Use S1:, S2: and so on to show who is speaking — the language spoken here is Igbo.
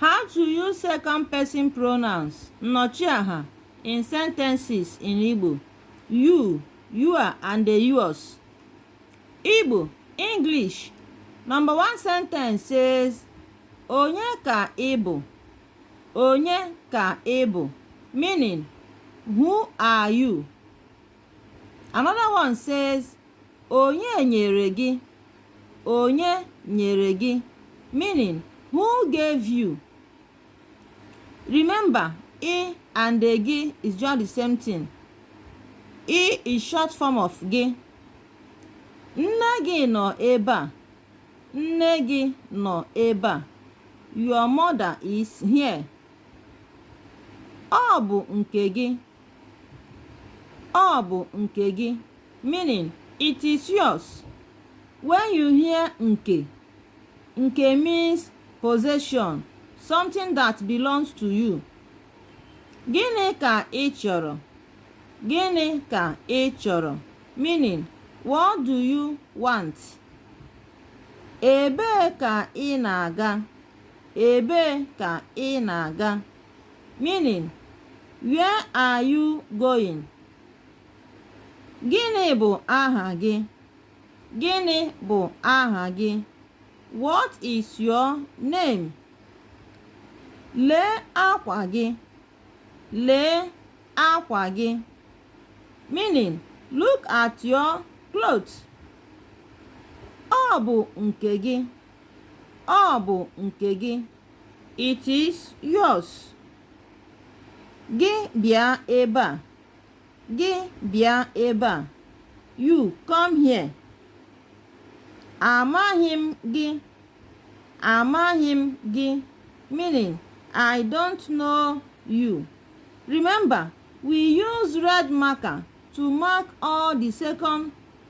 S1: How to use second person pronouns nnọchiaha in sentences in Igbo you, your and yours. Igbo English Number one sentence says onye ka ị bụ onye ka ị bụ meaning who are you Another one says, Onye nyere gị? Onye nyere gị? Meaning, who gave you? Remember, ị and gị is just the same thing. Ị is short form of gị. Nne gị nọ ebe a. Nne gị nọ ebe a. Your mother is here. Ọ bụ nke gị. ọ bụ nke gị meaning it is yours when you hear nke nke means possession something that belongs to you gịnị ka ị chọrọ gịnị ka ị chọrọ meaning what do you want ebee ka ị na-aga ebee ka ị na-aga Meaning, Where are you going? Gịnị bụ aha gị? Gịnị bụ aha gị? What is your name? Lee akwa gị. Lee akwa gị. Meaning, look at your cloth. Ọ bụ nke gị. Ọ bụ nke gị. It is yours. Gị bịa ebe a. Gị bịa ebe a. You come here. Amaghị m gị. Amaghị m gị. Meaning, I don't know you. Remember, we use red marker to mark all the second